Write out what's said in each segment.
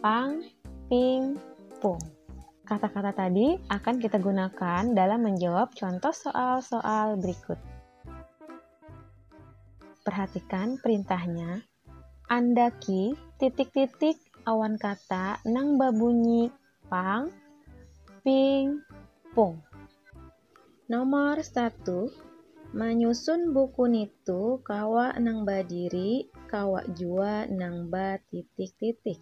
Pang, ping, pung. Kata-kata tadi akan kita gunakan dalam menjawab contoh soal-soal berikut. Perhatikan perintahnya. Andaki titik-titik awan kata nang babunyi pang, ping, pung. Nomor satu, manyusun buku nitu kawa nang badiri, kawa jua nang batitik-titik.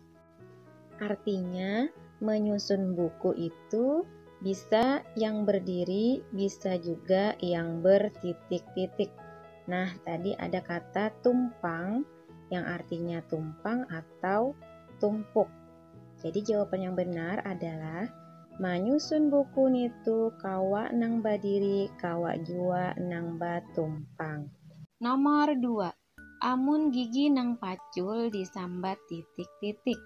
Artinya, manyusun buku itu bisa yang berdiri, bisa juga yang bertitik-titik. Nah, tadi ada kata tumpang yang artinya tumpang atau tumpuk. Jadi jawaban yang benar adalah manyusun buku nitu kawa nang badiri, kawa jua nang batumpang. Nomor dua, amun gigi nang pacul disambat titik-titik.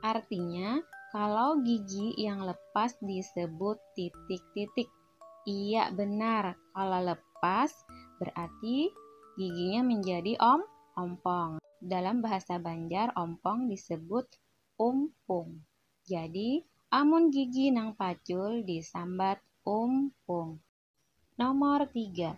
Artinya, kalau gigi yang lepas disebut titik-titik. Iya benar, kalau lepas berarti giginya menjadi om ompong. Dalam bahasa Banjar ompong disebut umpung. Jadi amun gigi nang pacul disambat umpung. Nomor tiga,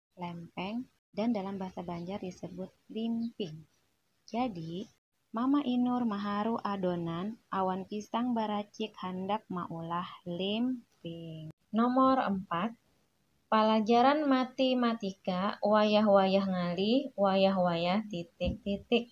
lempeng, dan dalam bahasa Banjar disebut limping. Jadi, Mama Inur maharu adonan awan pisang baracik handak maulah limping. Nomor empat, Palajaran matematika wayah-wayah ngalih, wayah-wayah titik-titik.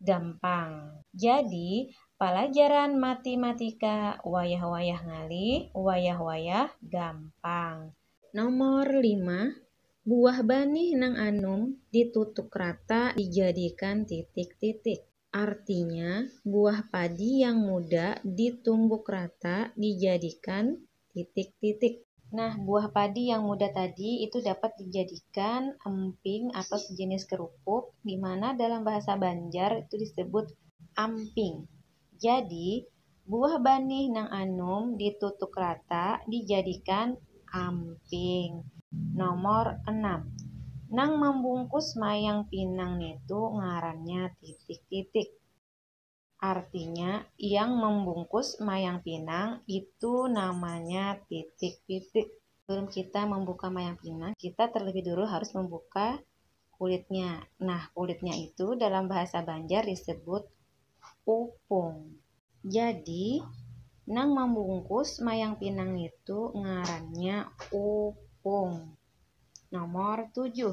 gampang. Jadi, palajaran matimatika wayah-wayah ngalih, wayah-wayah gampang. Nomor lima, Buah banih nang anum ditutuk rata dijadikan titik-titik. Artinya, buah padi yang muda ditumbuk rata dijadikan titik titik. Nah, buah padi yang muda tadi itu dapat dijadikan emping atau sejenis kerupuk di mana dalam bahasa Banjar itu disebut amping. Jadi, buah banih nang anum ditutuk rata dijadikan amping. Nomor enam, Nang mambungkus mayang pinang nitu ngarannya titik titik. Artinya, yang membungkus mayang pinang itu namanya pitik-pitik. Sebelum kita membuka mayang pinang, kita terlebih dulu harus membuka kulitnya. Nah, kulitnya itu dalam bahasa Banjar disebut upung. Jadi, nang membungkus mayang pinang itu ngarannya upung. Nomor tujuh,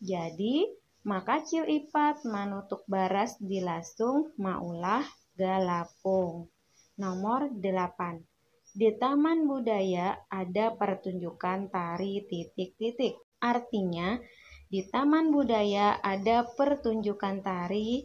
Jadi, makacil ipat manutuk baras di lasung maulah galapung. Nomor delapan. Di Taman Budaya ada partunjukan tari titik-titik. Artinya, di Taman Budaya ada pertunjukan tari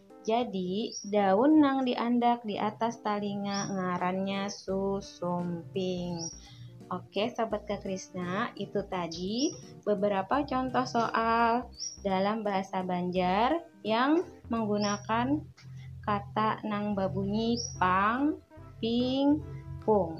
Jadi, daun nang diandak di atas talinga ngarannya susumping. Oke, Sobat Kekrisna, itu tadi beberapa contoh soal dalam bahasa Banjar yang menggunakan kata nang berbunyi pang, ping, pung.